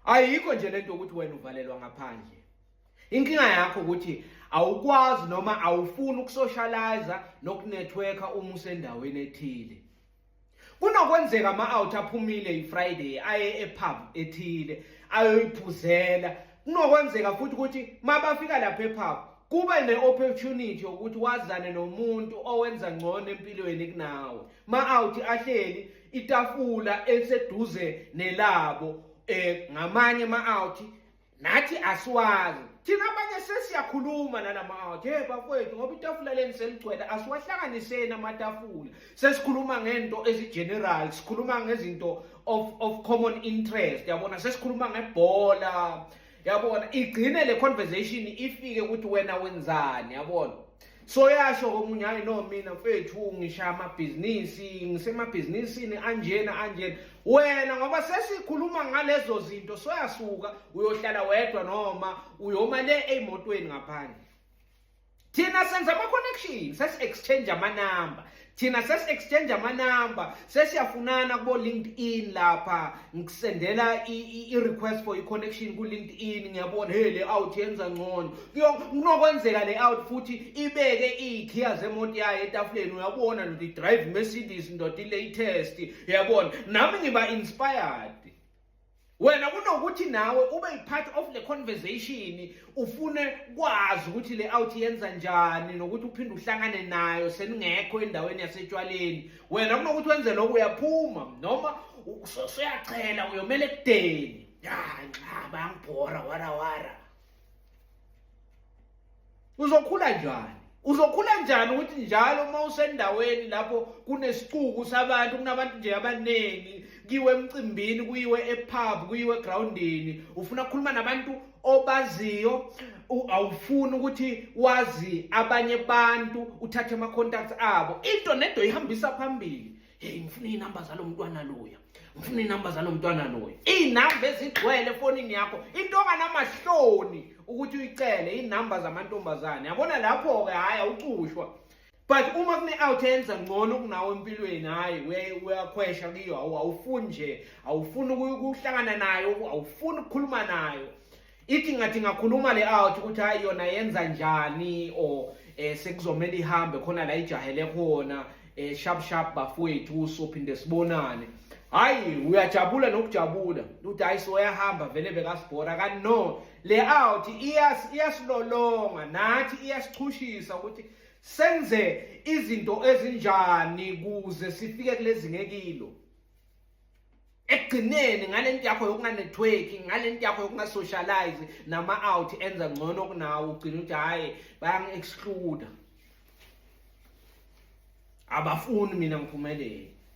ayikho nje lento ukuthi wena uvalelwa ngaphandle inkinga yakho ukuthi awukwazi noma awufuni ukusocialize nokunetworka uma usendaweni ethile kunokwenzeka ama-out aphumile ifriday aye epub ethile ayoyiphuzela kunokwenzeka futhi ukuthi mabafika lapha epub kube ne-opportunity yokuthi wazane nomuntu owenza ngcono empilweni kunawe ma-out ahleli itafula eliseduze nelabo eh ngamanye ama-out nathi asiwazi thina abanye sesiyakhuluma nalama-out ye bakwethu ngoba itafula leni seligcwele asiwahlanganiseni amatafula sesikhuluma ngento ezi-general sikhuluma ngezinto of, of common interest yabona sesikhuluma ngebhola yabona igcine le conversation ifike ukuthi wena wenzani yabona so yasho komunye hayi no mina mfethu ngishaya amabhizinisi ngisemabhizinisini anjena anjena wena ngoba sesikhuluma ngalezo zinto soyasuka uyohlala wedwa noma uyoma le emotweni ngaphandle thina senza ama-connection sesi-exchange amanamba thina sesi-exchange amanamba sesiyafunana kubo-linkedin lapha ngisendela i-request for i-connection ku-linkedin ngiyabona hey le out yenza ngcono kunokwenzeka le out futhi ibeke iy'khiya zemoto yayo etafuleni uyabona ndoda i-drive mercedes ndoda i-latest uyabona nami ngiba-inspired wena kunokuthi nawe ube yi-part of le conversation ufune kwazi ukuthi le out yenza njani nokuthi uphinde uhlangane nayo seningekho endaweni yasetshwaleni wena kunokuthi wenze lokho uyaphuma noma usuyachela uyomela ekudeni ya nxa bangibhora warawara uzokhula njani uzokhula njani ukuthi njalo uma usendaweni lapho kunesixuku sabantu kunabantu nje abaningi kiwe emcimbini kuyiwe epub kuyiwe egroundini ufuna ukukhuluma nabantu obaziyo awufuni ukuthi wazi abanye abantu uthathe ama-contacts abo into nento ihambisa phambili hey ngifuna iy'namba zalo mntwana loya ngifuna iy'namba zalo mntwana loya iy'namba ezigcwele efonini yakho into onganamahloni ukuthi uyicele iy'namba zamantombazane yabona lapho-ke hhayi awucushwa but uma kune-out enza ngcono kunawo empilweni hhayi uyakhwesha kuyo awufuni nje awufuni ukuhlangana nayo awufuni ukukhuluma nayo ithi ngathi ngakhuluma le out ukuthi hayi yona yenza njani or eh sekuzomela ihambe khona la ijahele khona eh sharp sharp bafowethu sophinde sibonane hayi uyajabula nokujabula ukuthi hayi soyahamba vele bekasibhora kanti no le out iyasilolonga nathi iyasichushisa ukuthi senze izinto ezinjani kuze sifike kulezi ngekilo ekugcineni ngale nto yakho yokunganethweki ngale nto yakho yokungasocialize nama-out enza ngcono kunawo ugcina ukuthi hhayi bayangi-excluda abafuni mina ngiphumelele